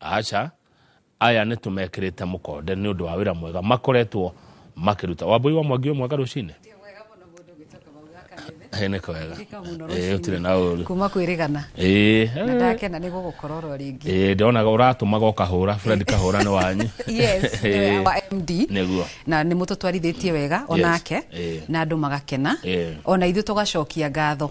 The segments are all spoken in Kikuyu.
aca aya nä tå mekä te må konde nä å ndå wa wä ra mwega makoretwo makä ruta wambå wa mwangi wä mwega rå cinä nä kwega å tirä na å ru kuma kwĩrĩgana na ndakena nĩ gũgũkora oro rĩngĩ ndonaga ũratũmaga ũkahũra fred kahũra nĩ wanyu yes nĩwe wa md nĩguo na nĩ mũtũtwarithĩtie wega onake na andũ magakena ona ithuĩ tũgacokia ngatho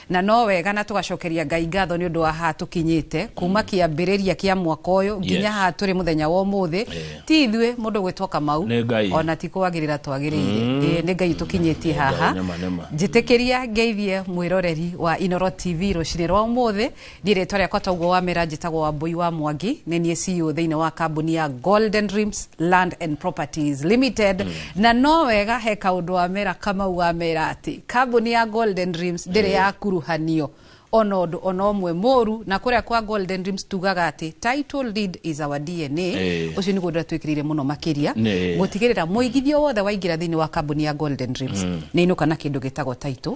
Na no wega na tũgacokeria Ngai ngatho nĩ ũndũ wa haha tũkinyĩte kuma kĩambĩrĩria kĩa mwaka ũyũ nginya Yes. haha tũrĩ mũthenya wa ũmũthĩ Yeah. ti ithuĩ mũndũ gwĩtwo kamau Nĩ Ngai. ona ti kwagĩrĩra twagĩrĩire Ĩĩ, nĩ ngai tũkinyĩtie Nĩ Ngai, haha nĩma, nĩma. njĩtĩkĩria ngeithie mwĩroreri wa inoro tv rũcinĩ rwa ũmũthĩ Niĩ rĩtwa rĩakwa toguo wamera njĩtagwo Wambũi wa Mwangi nĩ niĩ CEO thĩinĩ wa kambuni ya Golden Dreams Land and Properties Limited mm. na no wega he kaũndũ wamera Kamau wamera atĩ kambuni ya Golden Dreams ndĩrĩ mm. ya kuruhanio ona undu ona umwe muru na kuria kwa golden dreams tugaga ati title deed is our dna eh. ucio ni gundu twikirire muno makiria gutigirira muigithio wothe waingira thiini wa kambuni ya golden dreams mm. ni inuka na kindu gitagwo title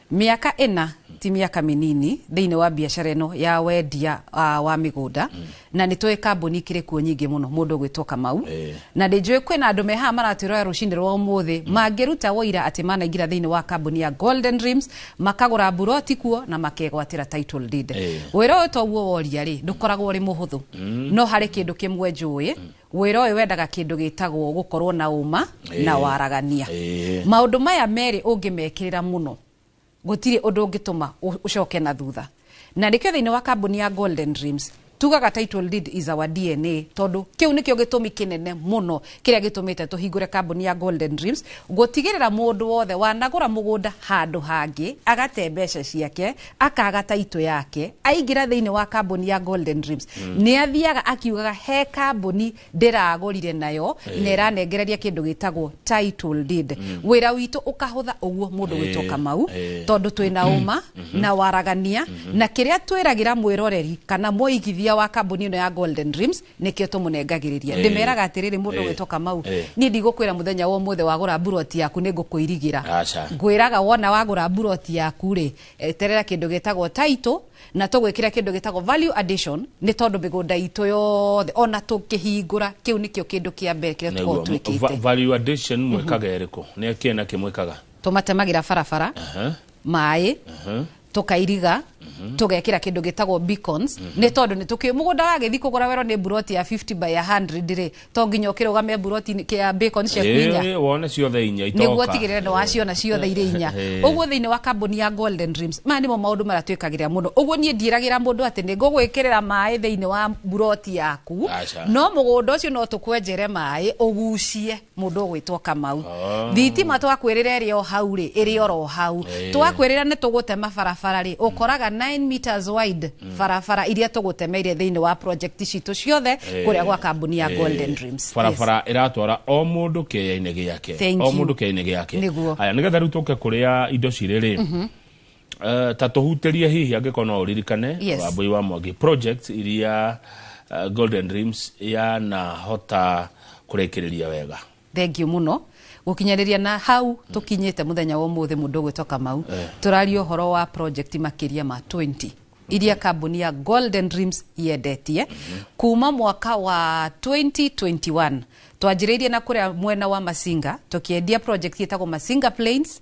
Mĩaka ĩna ti mĩaka mĩnini thĩinĩ wa biacara ĩno ya wendia uh, wa mĩgũnda mm. na nĩ tũĩ kambuni ikĩrĩ kuo nyingĩ mũno mũndũ gwĩtwo kamau e. na nĩ njũĩ kwĩna andũ me haha maratwĩrora rũcinĩ rwa ũmũthĩ mm. mangĩruta woira atĩ manaingĩra thĩinĩ wa kambuni ya golden dreams makagũra mburoti kuo na makegwatĩra title deed e. wĩra ũyũ toguo woria rĩ ndũkoragwo ũrĩ mũhũthũ mm. no harĩ kĩndũ kĩmwe njũĩ mm. Wĩra ũyũ wendaga kĩndũ gĩtagwo gũkorwo na ũma Ĩĩ. na waragania. Ĩĩ. Maũndũ maya merĩ ũngĩmekĩrĩra mũno, gũtirĩ ũndũ ũngĩtũma ũ- ũcoke na thutha. Na nĩkĩo thĩinĩ wa kambuni ya Golden Dreams, tugaga title deed is our DNA tondũ kĩu nĩkĩo gĩtũmi kĩnene mũno kĩrĩa gĩtũmĩte tũhingũre kambuni ya Golden Dreams gũtigĩrĩra mũndũ wothe wanagũra mũgũnda handũ hangĩ agate mbeca ciake akaga taitũ yake aingĩra thĩinĩ wa kambuni ya golden dreams mm. nĩ athiaga akiugaga he kambuni ndĩragũrire nayo na ĩranengereria kĩndũ gĩtagwo title deed mm. wĩra witũ ũkahũtha ũguo mũndũ Eh, gwĩtwo kamau eh. tondũ twĩ na ũma na waragania na kĩrĩa twĩragĩra mwĩroreri kana mũigithia wa kambuni ĩno ya golden dreams nĩkĩo tũmũnengagĩrĩria Ĩĩ. ndĩmeraga atĩrĩrĩ mũndũ Ĩĩ. gwĩtwo kamau Ĩĩ. niĩ ndigũkwĩra mũthenya wa ũmũthĩ wagũra mburoti yaku nĩ ngũkũirigĩra Aca. ngwĩraga wona wagũra mburoti yaku rĩ eterera kĩndũ gĩtagwo title na tũgwĩkĩra kĩndũ gĩtagwo value addition nĩ tondũ mĩgũnda itũ yothe ona tũngĩhingũra kĩu nĩkĩo kĩndũ kĩa mbere kĩrĩa Nĩguo. tũkorwo Va- twĩkĩte value addition mwĩkaga ĩrĩkũ nĩ kĩna kĩmwĩkaga tũmatemagĩra barabara Aha, maĩ aha. tukairiga tugekira kindu gitagwo beacons ni tondu ni tuki mugunda wagithii kugura wero ni buroti ya 50 by 100 ri to nginya ukirugame buroti kia beacons cia kwinya Eh, wone ciothe inya niguo itoka tigirire ni waciona ciothe irĩ inya Eh. ũguo thĩinĩ wa kambuni ya golden dreams maya nĩmo maũndũ marĩa twĩkagĩrĩra mũno ũguo niĩ ndiragĩra mũndũ atĩ nĩ ngũgwĩkĩrĩra maĩ thĩinĩ wa mburoti yaku Aca. no mũgũnda ũcio no tũkwenjere maĩ ũgucie mundu ugwitwo kamau ah. thitima twakwirira iri o hau ri iri oro hau eh. twakwirira ni tugutema barabara ri ukoraga 9 meters wide mm. barabara iria tugutemeire thiini wa project citu ciothe eh. kuria gwa kambuni ya eh. golden dreams barabara iratwara o mundu kiyaini giake o mundu kiyaini giake aya nigetha riu tuke kuria indo ciri ri mhm. Uh, ta tũhutĩrie hihi angĩkorwo no ũririkane yes. wambui wa mwangi project iria uh, golden dreams yanahota kũrĩkĩrĩria wega thengio muno gukinyaniria na hau tukinyite muthenya wa umuthi mundu gwitwa Kamau eh. turaria horo wa project makiria ma 20 iria kambuni ya Golden Dreams yendetie kuma mwaka wa 2021 twanjiriirie na kuria mwena wa Masinga tukiendia project yetagwo Masinga Plains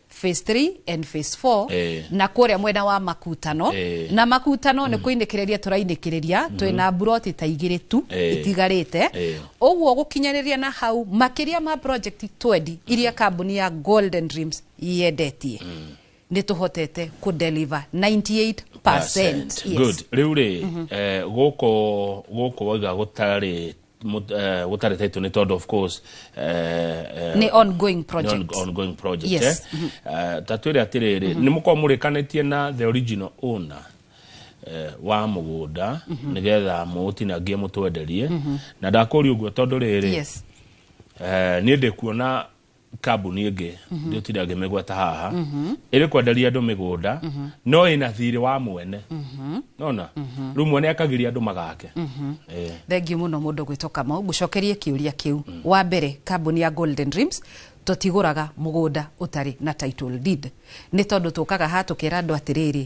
phase 3 and phase 4 Eh. na kũrĩa mwena wa makutano Eh. na makutano nĩ kũinĩkĩrĩria tũrainĩkĩrĩria twĩ na mburoti ta igĩrĩ tu Eh. itigarĩte Eh. ũguo gũkinyanĩria na hau makĩria ma project 20 iria kambuni ya golden dreams yendetie nĩ tũhotete kũdeliver 98 Yes. Good. Rĩu rĩ eh, gũkũ gũkũ wauga gũtarĩ mut- eh, gũtarĩ title nĩ tondũ of course eh, eh, nĩ ongoing nĩ project on- ongoing project Yes. eh? Eh, ta twĩre atĩrĩrĩ nĩ mũkorwo mũrĩkanĩtie na the original owner eh, wa mũgũnda nĩgetha mũũtinangie mũtwenderie na ndakũria ũguo tondũ rĩrĩ yes eh, niĩ ndĩkuona kambuni ĩngĩ mhm. ndĩtira ngĩmĩgweta haha mhm. ĩrĩ kwenderia andũ mĩgũnda mhm. no ĩna thirĩ wa mwene nona rĩu mwene akagiria andũ magake eh. thengiũ mũno mũndũ gwĩtwo kamau ngũcokerie kĩũria kĩu mm. wa mbere kambuni ya golden dreams tũtigũraga mũgũnda ũtarĩ na title deed nĩ tondũ tũkaga ha tũkera andũ atĩrĩrĩ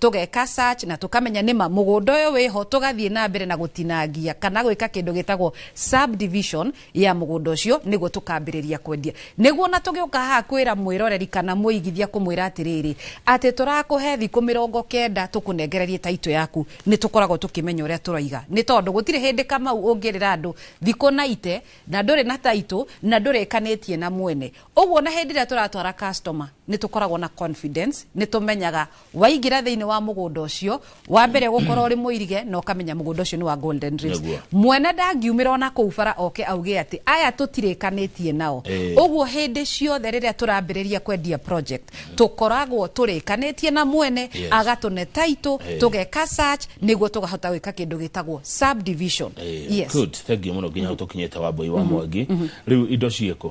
tũgeka search na tũkamenya nĩma mũgũnda ũyũ wĩho tũgathiĩ na mbere na gũtinangia kana gwĩka kĩndũ gĩtagwo subdivision ya mũgũnda ũcio nĩguo tũkambĩrĩria kwendia nĩguo na tũgĩũka haha kwĩra mwĩroreri kana mũigithia kũmwĩra atĩrĩrĩ atĩ tũrakũhe thikũ mĩrongo kenda tũkũnengererie taito yaku nĩ tũkoragwo tũkĩmenya ũrĩa tũroiga nĩ tondũ gũtirĩ hĩndĩ kamau ũngĩrĩra andũ thikũ na ite na ndũrĩ na taito na ndũrĩkanĩtie na mwene ũguo na hĩndĩ ĩrĩa tũratwara customer nĩ tũkoragwo na confidence nĩ tũmenyaga waingĩra thĩinĩ wa mũgũnda ũcio wa mbere gũkorwo ũrĩ mũirige na ũkamenya mũgũnda ũcio nĩ wa golden reefs Nĩguo. mwene ndangiumĩra ona kũu bara oke auge atĩ aya tũtirĩkanĩtie nao Ĩĩ. ũguo hĩndĩ ciothe rĩrĩa tũrambĩrĩria kwendia project tũkoragwo tũrĩkanĩtie na mwene Yes. agatũne taitũ Ĩĩ. tũgeka search nĩguo tũkahota gwĩka kĩndũ gĩtagwo subdivision Eh, yes. good thengiå må no nginya tå kinyä te wambå wa mwangi rä u indo ciäkå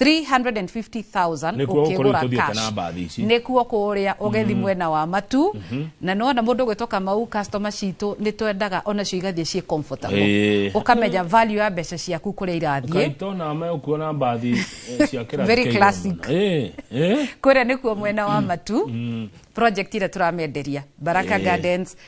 350,000 Nĩkuo gũkorwo ũkĩgũra itũthiĩte cash. na mbathi ici. nĩkuo kũrĩa ũgethi mwena wa matu na nĩwona mũndũ gwĩtwo kamau customer citũ nĩ twendaga onacio igathiĩ ciĩ comfortable Ĩĩ. ũkamenya value ya mbeca ciaku kũrĩa irathiĩ kaito na megũkuo na mbathi eh, cia kĩrathi Very kĩa igũrũ classic. mũno. Eh, eh. kũrĩa nĩkuo mwena wa matu project ĩrĩa tũramenderia baraka gardens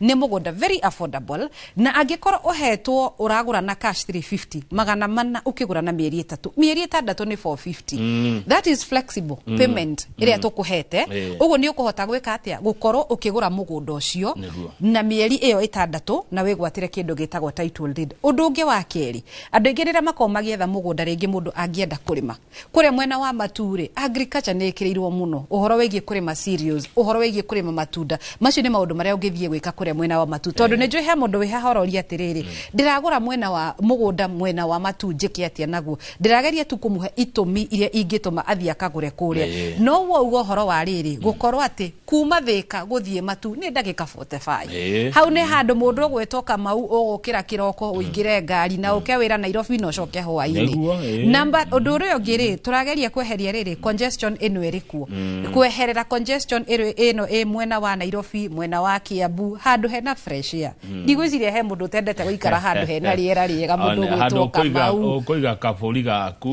Nĩ mũgũnda very affordable na angĩkorwo ũhetwo ũragũra na cash 350 magana mana ũkĩgũra na mĩeri ĩtatũ mĩeri ĩtandatũ nĩ 450 that is flexible payment ĩrĩa tũkũhete Eh. ũguo nĩ ũkũhota gwĩka atĩa gũkorwo ũkĩgũra mũgũnda ũcio Nĩguo. na mĩeri ĩyo ĩtandatũ na wĩgwatĩre kĩndũ gĩtagwo title deed ũndũ ũngĩ wa kerĩ andũ aingĩ rĩrĩa makorwo magĩetha mũgũnda rĩngĩ mũndũ angĩenda kũrĩma Kũrĩa mwena wa matu-rĩ, agriculture nĩ ĩkĩrĩirwo mũno. Ũhoro wĩgiĩ kũrĩma cereals, ũhoro wĩgiĩ kũrĩma matunda. Macio nĩ maũndũ marĩa ũngĩthiĩ gwĩka kũrĩa mwena wa matu. Tondũ nĩ njũĩ he mũndũ wĩ haha ũroria atĩrĩrĩ, ndĩragũra mwena wa mũgũnda mwena wa matu njĩke atĩa naguo? Ndĩrageria tu kũmũhe itũmi iria ingĩtũma athiĩ akagũre kũrĩa. Ĩĩ. No wauga ũhoro wa rĩrĩ, gũkorwo atĩ Kuuma Thĩka gũthiĩ Matu nĩ ndagĩka 45. Ĩĩ. Hau nĩ handũ mũndũ ũgwĩtwo Kamau ũgũkĩra kĩroko ũingĩre ngari na ũke wĩra Nairobi na ũcoke Nĩguo, hwaĩ-inĩ. ĩĩ. Namba ũndũ ũrĩa ũngĩ rĩ tũrageria kweheria rĩrĩ congestion ĩno ĩrĩ kuo. Kweherera congestion ĩrĩ- ĩno ĩ mwena wa Nairobi, mwena wa Kiambu, handũ hena fresh air. hmm. ndigwĩciria he mũndũ ũtendete gũikara handũ hena rĩera rĩega mũndũ gwĩtwo kamau ũkũiga kabũri gaku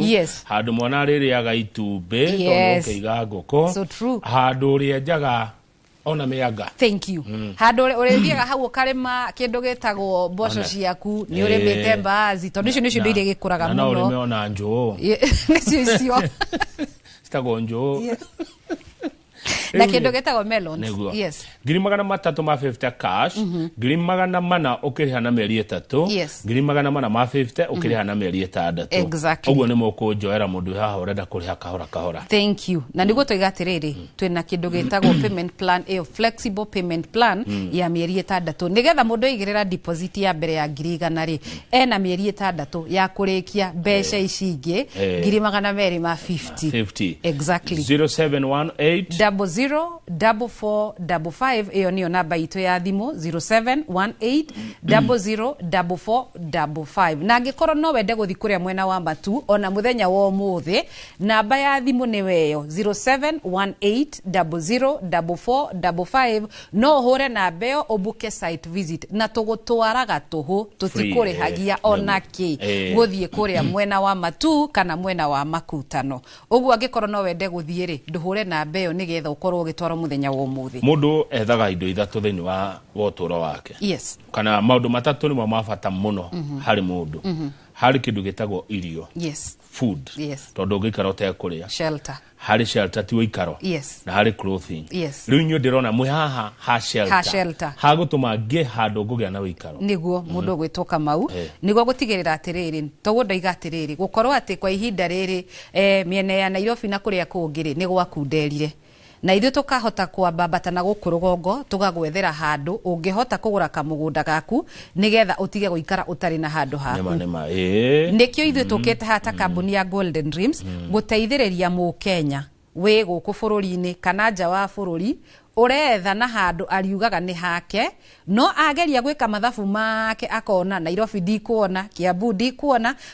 handũ mwana arĩrĩaga itumbĩ tondũ ũkĩiga ngũkũ handũ ũrĩa njaga ona mĩanga thank you mm. handå å rä thiaga hau å karĩma kä ndå gä tagwo mboco ciaku nä å rä mä te mbazi tondå icio nä cio ndå iria gä kå raga må no rä me ona njå nä cio icio citagwo njå na Rĩu-rĩ, kĩndũ gĩtagwo melons nĩguo yes ngiri magana matatũ ma 50 cash ngiri magana mana ũkĩrĩha na mĩeri ĩtatũ Yes. ngiri magana mana ma 50 ũkĩrĩha na mĩeri ĩtandatũ Exactly. ũguo nĩ mũkũnjoera mũndũ wĩ haha ũrenda kũrĩha kahora kahora thank you na niguo twiga atiriri twina kindu gitagwo payment plan iyo flexible payment plan ya mieri itandatu nigetha mundu igirira deposit ya mbere ya ngiri igana ri ena mieri itandatu ya kurikia mbeca ici ingi Eh. ngiri magana meri ma 50 50 exactly 0718 double zero double four double five ĩyo nĩyo namba itũ ya thimũ 0718 double zero double four double five na angĩkorwo no wende gũthi kũrĩa mwena wa matu ona mũthenya wa ũmũthĩ namba ya thimũ nĩ weyo 0718 double zero double four double five No ũhũre namba ĩyo ũbuke site visit na tũgũtwaraga tũhũ tũtikũrĩhagia eh, ona kĩ eh. gũthiĩ kũrĩa mwena wa matu kana mwena wa makutano ũguo angĩkorwo no wende gũthiĩ rĩ ndũhũre namba ĩyo nĩgetha ũkorwo ũgĩtwarwo mũthenya wa ũmũthĩ mũndũ ethaga indo ithatũ thĩinĩ wa wotũro wake yes. kana maũndũ matatũ nĩmo ma bata mũno mm -hmm. harĩ mũndũ mm -hmm. harĩ kĩndũ gĩtagwo irio yes. food yes. tondũ ũngĩikara ũtekũrĩa shelter harä shelter ti woikaro Yes. na harä clothing Yes. rä u inyuä ndä rona mwä haha ha Ha shelter. shelter. ha gå tå ma ngä handå ngå gä a na wä ikaro niguo mundu gwitwo kamau Eh. niguo gutigirira atiriri toguo ndoiga atiriri gukorwo ati kwa ihinda riri eh, miena ya nairobi na kuria kungiri ni gwakunderire na ithuĩ tũkahota kwambambata na gũkũ rũgongo tũgagwethera handũ ũngĩhota kũgũra kamũgũnda gaku nigetha utige guikara utari na handu haku nima nima eh nikio ithuĩ tũkĩte haha ta kambuni ya golden dreams gũteithĩrĩria mũkenya wĩ gũkũ bũrũri-inĩ kana nja wa bũrũri ũretha na handũ ariugaga nĩ hake no ageria gwĩka mathabu make akona nairobi ndikuona kiambu ndikuona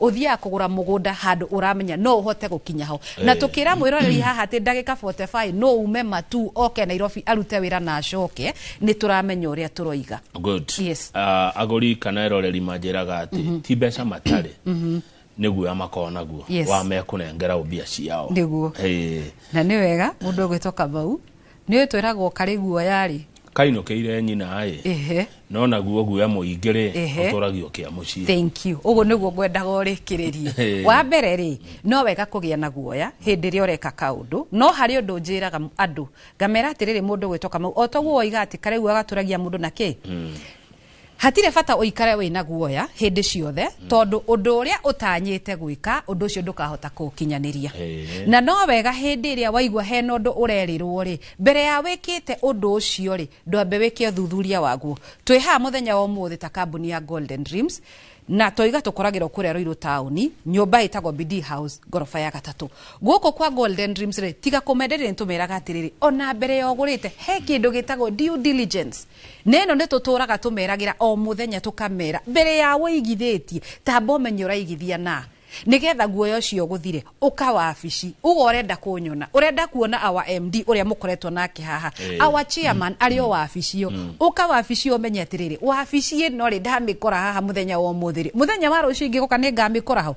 uthiaga kugura mugunda handu uramenya no uhote gukinya ho na tukira mwiroreri haha ati ndagika 45 no ume matu oke Nairobi arute wira na acoke ni turamenya uria turoiga good Yes. Ah, agũri kana eroreri manjĩraga atĩ ti mbeca matarĩ nĩ guoya makorwo naguo Yes. wa mekũnengera mbia ciao Nĩguo. Eh, na ni wega mundu gwitoka bau Nĩ ũĩ twĩragwo karĩ guoya-rĩ. Kainũkĩire nyina-ĩ. Ĩhĩ. No naguo guoya mũingĩ-rĩ, Ĩhĩ. ũtũragio kĩa mũciĩ. Thank you. Ũguo nĩguo ngwendaga ũrĩkĩrĩrie. Ĩĩ. Wa mbere rĩ, no wega kũgĩa na guoya hĩndĩ ĩrĩa ũreka kaũndũ, no harĩ ũndũ njĩraga andũ, ngamera atĩrĩrĩ, mũndũ gwĩtwo Kamau, o ta ũguo woiga atĩ karĩ guoya gatũragia mũndũ na kĩ? Hatirĩ bata ũikare wĩ na guoya hĩndĩ ciothe, tondũ ũndũ ũrĩa ũtanyĩte gwĩka, ũndũ ũcio ndũkahota kũũkinyanĩria. Ĩĩ. Na no wega hĩndĩ ĩrĩa waigua hena ũndũ ũrerĩrwo-rĩ, mbere ya wĩkĩte ũndũ ũcio-rĩ, ndwambe wĩke ũthuthuria waguo. Twĩ haha mũthenya wa ũmũthĩ ta kambuni ya Golden Dreams, na twauga tũkoragĩrwo kũrĩa Ruiru taũni, nyũmba ĩtagwo Bidii House, ngoroba ya gatatũ. Gũkũ kwa Golden Dreams-rĩ, tiga kũmenderia nĩtũmeraga atĩrĩrĩ, ona mbere ya ũgũrĩte, he kĩndũ gĩtagwo due diligence. Na ĩno nĩtũtũũraga tũmeragĩra o mũthenya tũkamera mbere ya ũigithĩtie tamba ũmenye ũraigithia na nĩgetha guoya ũcio ũgũthire ũka wabici uga ũrenda kũnyona ũrenda kuona our MD ũrĩa mũkoretwo nake haha Eh. our chairman arĩ o wabici ĩyo ũka wabici ĩyo ũmenye atĩrĩrĩ wabici ĩno rĩ ndamĩkora haha mũthenya wa ũmũthĩ rĩ mũthenya wa rũciũ ingĩgoka nĩngamĩkora hau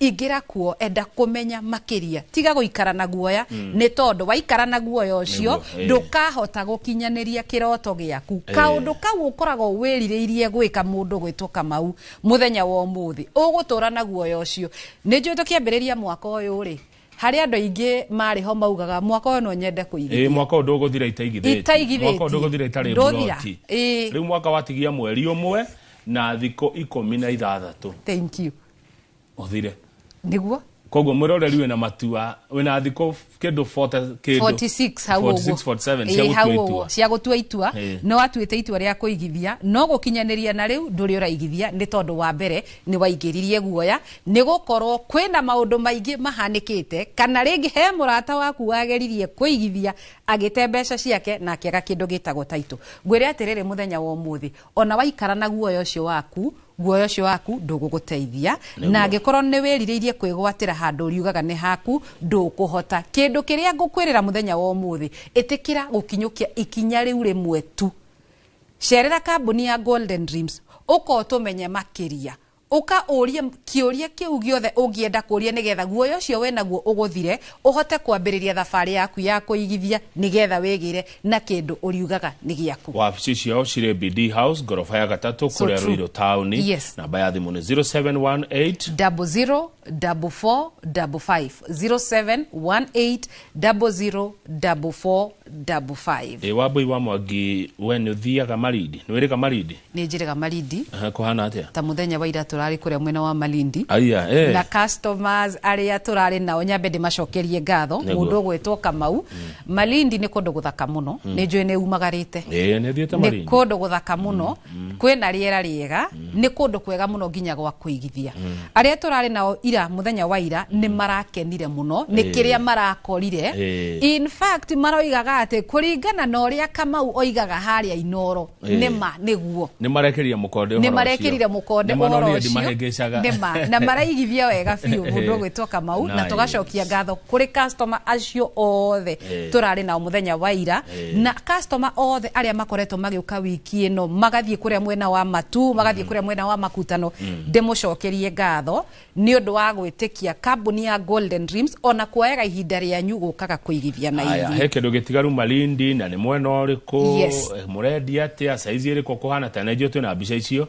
ingĩra kuo enda kũmenya makĩria tiga gũikara na guoya mm. nĩ tondũ waikara na guoya ũcio eh. ndũkahota gũkinyanĩria kĩroto gĩaku eh. kaũndũ kau ũkoragwo wĩrirĩirie gwĩka mũndũ gwĩtwo kamau mũthenya wa ũmũthĩ ũgũtũra na guoya ũcio nĩ njũĩ tũkĩambĩrĩria mwaka ũyũ rĩ hari andu aingi mari ho maugaga mwaka uyu no nyende kuigithia eh mwaka undu guthira itaigithia mwaka undu guthira itari mburoti riu mwaka watigia mweri umwe na thiko ikumi na ithathatu thank you ũthire niguo koguo mwĩroreri wĩna matua wĩna thikũ kĩndũ 40 kĩndũ 46 hau 46, ũguo 47 Ĩĩ, cia hau gũtua ũguo, itua cia gũtua itua Ĩĩ. no watuĩte itua rĩa kũigithia no gũkinyanĩria na rĩu ndũrĩ ũraigithia nĩ tondũ wa mbere nĩ waingĩririe guoya nĩ gũkorwo kwĩna maũndũ maingĩ mahanĩkĩte kana rĩngĩ he mũrata waku wageririe kũigithia agĩte mbeca ciake na akĩaga kĩndũ gĩtagwo taitũ ngwĩre atĩrĩrĩ mũthenya wa ũmũthĩ ona waikara na guoya ũcio waku guoya ũcio waku ndũgũgũteithia na angĩkorwo nĩ wĩrirĩirie kwĩgwatĩra handũ ũriugaga nĩ haku ndũkũhota kĩndũ kĩrĩa ngũkwĩrĩra mũthenya wa ũmũthĩ ĩtĩkĩra gũkinyũkia ikinya rĩu rĩmwe tu cerera kambuni ya golden dreams ũkotũmenye makĩria Ũka ũũrie kĩũria kĩu gĩothe ũngĩenda kũũria nĩgetha guoya ũcio wĩ naguo ũgũthire, ũhote kwambĩrĩria thabarĩ yaku ya kũigithia nĩgetha wĩgĩre na kĩndũ ũriugaga nĩ gĩaku. Wabici ciao cirĩ BD House, ngoroba ya gatatũ, So kũrĩa true. Ruiru taũni. Yes. Namba ya thimũ nĩ 0718 double zero double four double five zero seven one eight double zero double four Dabu 5. Ĩ Wambũi wa Mwangi we nĩ ũthiaga Malindi? Nĩ wĩrĩga Malindi? Nĩ njĩrĩga Malindi. Aha, kũhana atĩa? Ta mũthenya wa ira tũrarĩ kũrĩa mwena wa Malindi. Aya, eh. Na customers arĩa tũrarĩ nao nyambe ndĩmacokerie ngatho. Nĩguo. Mũndũ ũgwĩtwo Kamau. Malindi nĩ kũndũ gũthaka mũno. Nĩ njũĩ nĩ umagarĩte. Ĩ, nĩ thiĩte Nĩ Malindi. kũndũ gũthaka mũno. kwĩna rĩera rĩega nĩ kũndũ kwega mũno nginya gwa kũigithia arĩa tũrarĩ nao ira mũthenya wa ira nĩ marakenire mũno nĩ kĩrĩa marakorire Eh. in fact maroigaga atĩ kũringana na ũrĩa kamau oigaga harĩa inoro Eh. nĩ ma nĩguo nĩ marekĩrire mũkonde nĩ marekĩrire mũkonde ũhoro ũcio mahengecaga nĩ ma na maraigithia wega biũ mũndũ ũgwĩtwo kamau na Nice. tũgacokia ngatho kũrĩ customer acio othe Eh. tũrarĩ nao mũthenya wa ira Eh. na customer othe arĩa makoretwo magĩũka wiki ĩno magathiĩ kũrĩa mwena wa matu magathiĩ kũrĩa mwena wa makutano ndĩmũcokerie ngatho nĩ ũndũ wa gwĩtĩkia kambuni ya golden dreams ona kuoyaga ihinda rĩanyu gũkaga kũigithia na Aya, ithuĩ he kĩndũ gĩtigaru malindi na nĩ mwena ũrĩkũ Yes. eh, mũrendia atĩa saizi ĩrĩkũ kũhana ta na ithuĩ twĩna mbica icio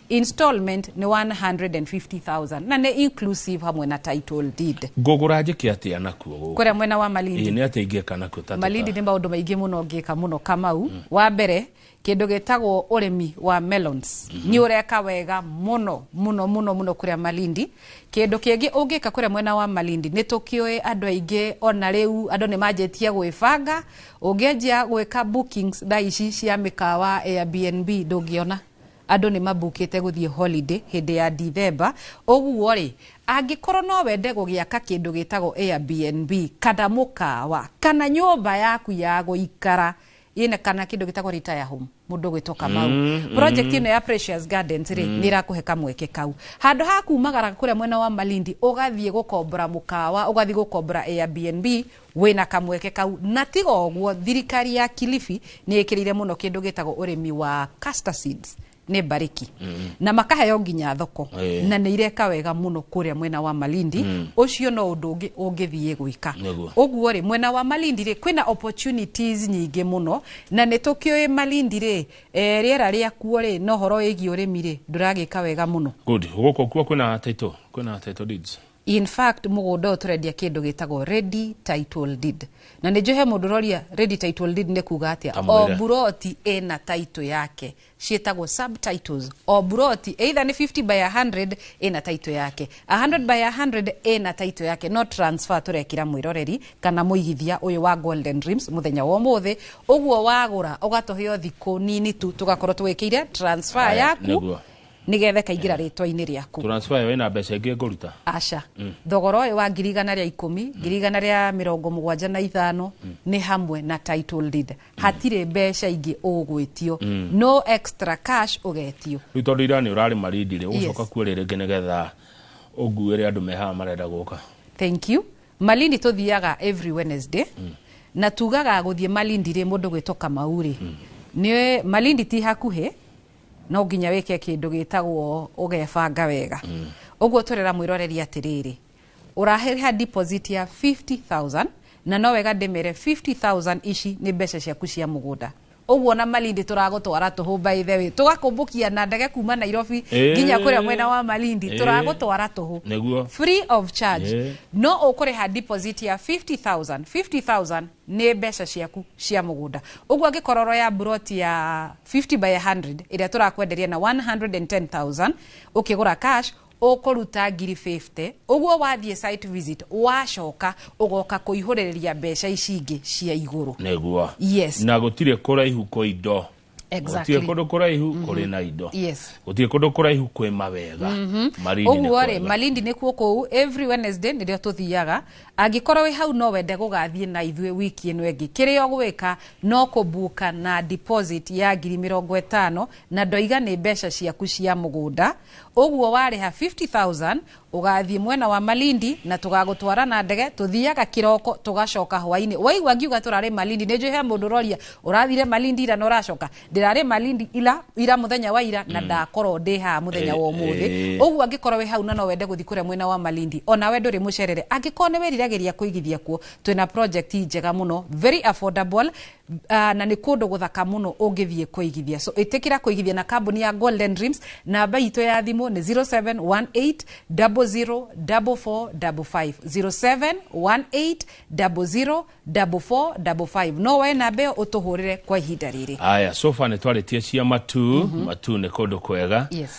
Installment nĩ 150,000 na nĩ inclusive hamwe na title deed. Ngũgũra njĩke atĩa nakuo gũkũ? Kũrĩa mwena wa Malindi. Ĩĩ nĩ atĩa ingĩka nakuo ta Malindi nĩ maũndũ maingĩ mũno ngĩka mũno Kamau. Mm. Wa mbere kindu gitagwo urimi wa melons mm -hmm. ni ureka wega muno muno muno muno kuria malindi kindu kingi ungika kuria mwena wa malindi ni tukioi andu aingi ona riu andu ni manjitie gwibanga ungianjia gwika bookings thaa ici cia mikawa airbnb ndungiona Andũ nĩ mambukĩte gũthiĩ holiday hĩndĩ ya Dithemba. Ũguo-rĩ, angĩkorũo no wende gũgĩaka kĩndũ gĩtagwo Airbnb, kana mũkawa, kana nyũmba yaku ya gũikara, ĩna kana kĩndũ gĩtagwo retire home, mũndũ ũgwĩtwo Kamau, project ĩno ya Precious Gardens-rĩ, nĩ ĩrakũhe kamweke kau. Handũ ha kuumagara kũrĩa mwena wa Malindi ũgathiĩ gũkombora mũkawa, ũgathiĩ gũkombora Airbnb, wĩna kamweke kau na tiga ũguo thirikari ya Kilifi nĩ ĩkĩrĩire mũno kĩndũ gĩtagwo ũrĩmi wa castor seeds nĩ mbarĩki na makaheo nginya thoko Eh. na nĩ ireka wega mũno kũrĩa mwena wa Malindi ũcio no ũndũ ũngĩ ũngĩthiĩ gwĩka Nĩguo. ũguo rĩ mwena wa Malindi rĩ kwĩna opportunities nyingĩ mũno na nĩ tũkĩũĩ Malindi rĩ eh, rĩera rĩa kuo rĩ no horo wĩgiĩ ũrĩmi rĩ ndũragĩka wega mũno good gũkũ kuo kwĩna title kwĩna title deeds In fact mũgũnda ũyũ tũrendia kĩndũ gĩtagwo ready title deed. Na nĩ njũĩ he mũndũ ũroria ready title deed nĩ kuga atĩa. O Kamwĩre. mburoti ĩna title yake ciĩtagwo subtitles. O mburoti either nĩ 50 by 100 ĩna title yake. 100 by 100 ĩna title yake no transfer tũrekĩra mwĩroreri kana mũigithia ũyũ wa Golden Dreams mũthenya wa ũmũthĩ. Ũguo wagũra ũgatũhe o thikũ nini tu tũgakorwo tũgĩkĩire transfer Aya, yaku nĩguo. nĩ getha ĩkaingĩra rĩtwa-inĩ rĩaku transfer ĩyo ĩna mbeca ingĩ ngũruta aca thogora ũyũ wa ngiri igana rĩa ikũmi ngiri igana rĩa mĩrongo mũgwanja na ithano nĩ hamwe na title deed hatirĩ mbeca ingĩ ũgwĩtio no extra cash ũgetio rĩu tondũ ira nĩ ũrarĩ marindi rĩ ũgũcoka Yes. kuo rĩ rĩngĩ nĩ getha ũnguĩre andũ mehaha marenda gũka thank you malindi tũthiaga every wednesday na tugaga gũthiĩ malindi rĩ mũndũ gwĩtwo kamau rĩ nĩ malindi ti hakuhĩ no nginya wĩke kĩndũ gĩtagwo ũgebanga wega mm. ũguo tũrera mwĩroreri atĩrĩrĩ ũraheha deposit ya 50000 na no wega ndĩmere 50000 ici nĩ mbeca ciaku cia mũgũnda ũguo na malindi tũragũtwara tũhũmba ithe wĩ tũgakũmbũkia na ndege kuma nairobi Eh. nginya kũrĩa mwena wa malindi Eh. tũragũtwara tũhũ Nĩguo. free of charge Eh. no ũkũrĩha deposit ya 50000 50000 nĩ mbeca ciaku cia mũgũnda ũguo angĩkorwo ũroya mburoti ya 50 by 100 ĩrĩa tũrakwenderia na 110000 ũkĩgũra cash ũkũruta ngiri 50 ũguo wathiĩ site visit wacoka ũgoka kũihũrĩrĩria mbeca ici ingĩ cia igũrũ nĩguo yes na gũtirĩ kũraihu kũ indo gũtirĩ kũndũ kũraihu mhm. kũrĩ na indo gũtirĩ kũndũ kũraihu kwĩ mawega mhm. ũguo rĩ malindi nĩ kuo kũu every wednesday nĩrĩo tũthiaga angĩkorwo wĩ hau no wende gũgathiĩ na ithuĩ wiki ĩno ĩngĩ kĩrĩa ũgwĩka no kũbuka na deposit ya ngiri mĩrongo ĩtano na ndoiga nĩ mbeca ciaku cia mũgũnda ũguo warĩha 50000 Ũgathiĩ mwena wa Malindi na tũgagũtwara na ndege, tũthiaga kĩroko tũgacoka hwainĩ. Waigua ngiuga tũrarĩ Malindi, nĩ njũĩ he mũndũ ũroria ũrathire Malindi ira na ũracoka. Ndĩrarĩ Malindi ira, ira mũthenya wa ira na mm. ndakorwo ndĩ haha mũthenya wa ũmũthĩ. Eh. Ũguo angĩkorwo wĩ hau na no wende gũthiĩ kũrĩa mwena wa Malindi, ona we ndũrĩ mũcerere. Angĩkorwo nĩ wĩriragĩria kũigithia kuo, twĩna project njega mũno, very affordable, Uh, na nĩ kũndũ gũthaka mũno ũngĩthiĩ kũigithia so ĩtĩkĩra kũigithia na kambuni ya golden dreams namba itũ ya thimũ nĩ 0718004455 no woe namba ĩyo ũtũhũrĩre kwa ihinda rĩrĩ aya sofa nä twarä tie cia matu mm -hmm. matu nä kå ndå kwega Yes.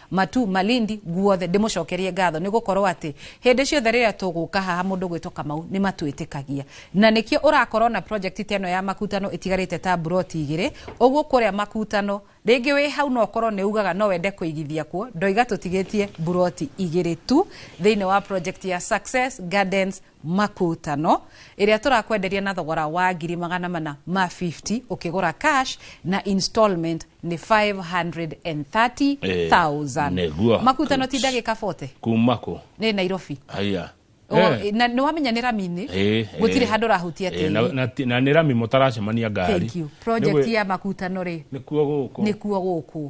Matu, Malindi, guothe, ndĩmũcokerie ngatho nĩ gũkorwo atĩ hĩndĩ ciothe rĩrĩa tũgũka haha mũndũ gwĩtwo Kamau nĩ matwĩtĩkagia na nĩkĩo ũrakorwo na project ta ĩno ya makutano ĩtigarĩte ta mburoti igĩrĩ ũguo kũrĩa makutano rĩngĩ wĩ hau no ũkorwo nĩ ugaga no wende kũigithia kuo ndoiga tũtigĩtie mburoti igĩrĩ tu thĩinĩ wa project ya Success Gardens Makutano, ĩrĩa tũrakwenderia na thogora wa ngiri magana mana ma 50 ũkĩgũra cash na installment nĩ 530,000. Eh, nĩguo. Makutano ti ndagĩka 40 kuma kũ nĩ Nairobi. Aya. O, Eh, na nĩ wamenya nĩ rami-inĩ eh, gũtirĩ eh. handũ ũrahutia Eh, na- tĩri na ti- na nĩ rami mũtaracemania ngari Thank you. Nĩ project gwĩ- ya makutano rĩ nĩkuo gũkũ nĩkuo gũkũ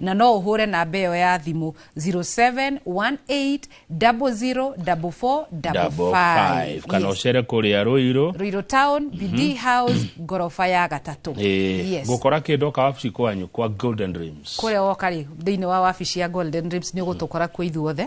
na no ũhũre namba ĩyo ya thimũ 0718004455 kana Yes. ũcere kũrĩa rũirũ Ruiru Town, BD House, ngoroba ya gatatũ. Yes. ngũkora kĩndũ oka wabici kwanyu kwa golden dreams kũrĩa woka rĩ thĩinĩ wa wabici ya golden ribs nĩ ũgũtũkora kuo ithuothe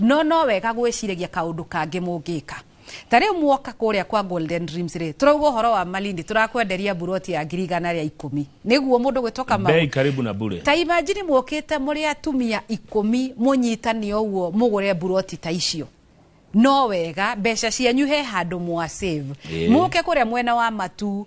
No no wega gwĩciragia kaũndũ kangĩ mũngĩka. Ta rĩu muoka kũrĩa kwa Golden Dreams rĩ, tũrauga ũhoro wa Malindi, tũrakwenderia mburoti ya ngiri igana rĩa ikũmi. Nĩguo mũndũ gwĩtwo Kamau. Bei karibu na bure. Ta imagine mũkĩte mũrĩ atumia ikũmi mũnyitane ũguo mũgũre mburoti ta icio. No wega mbeca cianyu he handũ mwa save. Ĩĩ. Mũke kũrĩa mwena wa matu,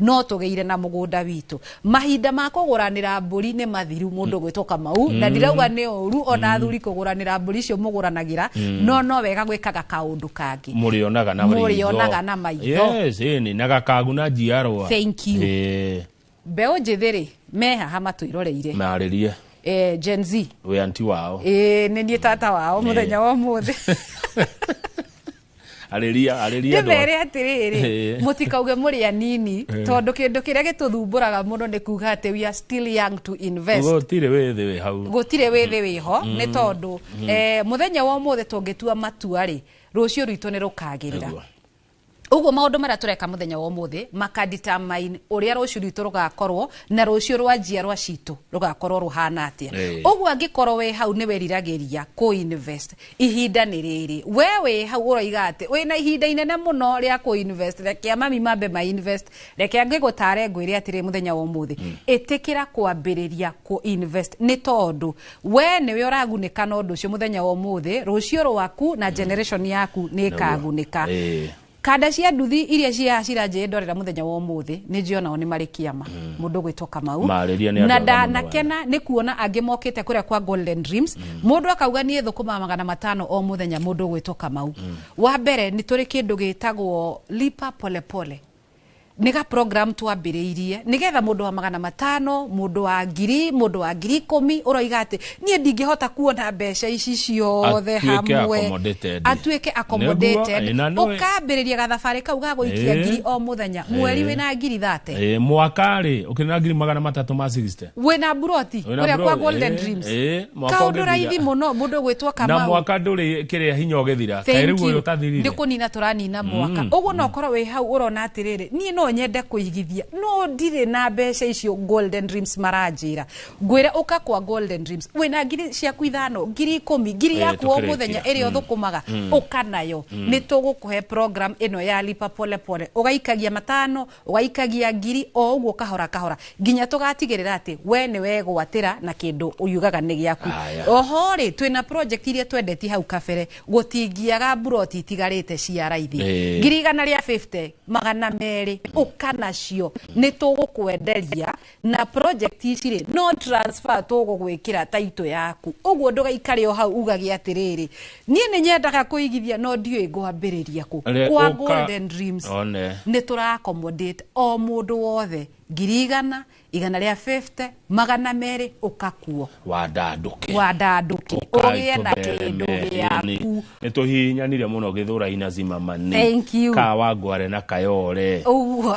no tũgĩire na mũgũnda witũ mahinda ma kũgũranĩra mbũri nĩ mathiru mũndũ mm. gwĩtwo kamau na mm. ndirauga nĩ ũru ona mm. athuri kũgũranĩra mbũri icio mũgũranagĩra no no wega gwĩkaga kaũndũ kangĩ mũrĩonaga na mũrĩonaga na maitho yes ni na gakagu na njiarwa thank you eh. mbeũ njĩthĩ rĩ mehaha matũiroreire marĩrie eh, Gen Z we anti wao eh, nĩ niĩ tata wao mũthenya wa ũmũthĩ arĩria arĩria andũ ndĩmere atĩrĩrĩ Eh. mũtikauge mũrĩ anini tondũ kĩndũ kĩrĩa gĩtũthumbũraga mũno nĩ kuga atĩ we are still young to invest gũtirĩ wĩ thĩ wĩ hau gũtirĩ wĩ thĩ wĩho nĩ tondũ eh, mũthenya wa ũmũthĩ tũngĩtua matua rĩ rũciũ rwitũ nĩ rũkagĩrĩra Ũguo. ũguo maũndũ marĩa tũreka mũthenya wa ũmũthĩ makaditamain ũrĩa rũciũ rwitũ rũgakorwo na rũciũ rwa njiarwa citũ rũgakorwo rũhana atĩa Eh. ũguo angĩkorwo wĩ hau nĩ weriragĩria kũ-invest Ihinda nĩ rĩrĩ. We wĩ hau ũroiga atĩ wĩ na ihinda inene mũno rĩa kũ invest. Rekea mami mambe ma invest. Rekea ngĩgũtare ngwĩre atĩrĩ mũthenya wa ũmũthĩ. Mm. Ĩtĩkĩra kwambĩrĩria kũ invest. Nĩ tondũ we nĩwe ũragunĩka na ũndũ ũcio mũthenya wa ũmũthĩ. Rũciũ rwaku na mm. generation yaku nĩ ĩkagunĩka. No, Kanda cia nduthi iria ciaha ciranjĩrĩ ndorera muthenya wa umuthi ni njio nao ni mari kiama mm. mundu gwitwo kamau na ndanakena ni kuona angi mokite kuria kwa golden dreams mm. mundu akauga ni thukuma magana matano o muthenya mundu gwitwo kamau mm. wa mbere ni turi kindu gitagwo lipa polepole pole. nĩ ga program twambĩrĩirie nĩgetha mũndũ wa magana matano mũndũ wa ngiri mũndũ wa ngiri ikũmi ũroiga atĩ niĩ ndingĩhota kuona mbeca ici ciothe Atuĩke hamwe accommodated. atuĩke accommodated Nĩguo, ĩ, na nĩwe- ũkambĩrĩria gathabarĩ kau ga gũikia Ĩ. ngiri o mũthenya mweri Ĩ. wĩna ngiri thate Ĩ, mwaka rĩ ukina ngiri magana matatu ma 60 wĩna mburoti Wĩna kũrĩa kwa mburoti, golden eh, dreams eh, mwaka kaũndũ ũgĩthira. raithi mũno mũndũ gwĩtwo na kamau mwaka ndũrĩ kĩrĩa hinya ũgĩthira kaĩ rĩu ũyũ ũtathirire nä kå nina tå ranina mwaka å guo no korwo wä hau å rona atä rä rä niä no nyende kå igithia no ndirä na mbeca icio golden dreams maranjä ra ngwä ra å ka kwa golden dreams wä na ngiri ciaku ithano ngiri ikå mi ngiri Eh, yaku o tũkĩrĩkia. må thenya ä rä a å thå kå maga å ka nayo nä tå gå kå he program ä no ya lipa pole pole å gaikagia matano Ũgaikagia ngiri o ũguo kahora kahora nginya tũgatigĩrĩra atĩ we nĩ wegwatĩra na kĩndũ ũyugaga nĩ gĩaku. Aya. Oho rĩ, twĩna project iria twendetie hau kabere, gũtingĩaga mburoti itigarĩte cia raithi. Eh. Ngiri igana rĩa 50, magana merĩ, ũka nacio. Nĩ tũgũkwenderia na project ici rĩ no transfer tũgũgwĩkĩra taito yaku ũguo ndũgaikare o hau ugage atĩrĩrĩ niĩ nĩ nyendaga kũigithia no ndiũĩ ngwambĩrĩria kũ Re- kwa ũka- golden dreams one nĩ tũra accommodate o mũndũ wothe ngiri igana igana rĩa 50 magana merĩ ũkakuo wandandũke wandandũke ũgĩe na kĩndũ gĩaku nä tå hihinyanire må no gä thå raina zimamani Thank you. kawangware na kayore ũguo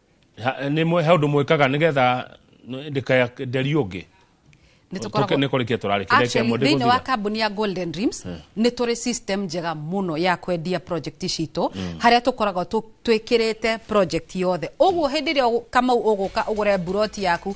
nä mwe he å ndå mwä kaga nä getha ndä kaya nderi å ngä nä tå koragwo nä kå rä kia tå rarä Actually, thĩinĩ wa kambuni ya golden dreams nĩ tũrĩ system njega mũno ya kwendia project citũ harĩa tũkoragwo tũ- twĩkĩrĩte project yothe ũguo hĩndĩ ĩrĩa ũ- kamau ũgũka ũgũre buroti yaku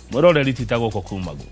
mwĩroreri tita gũkũ kuma guo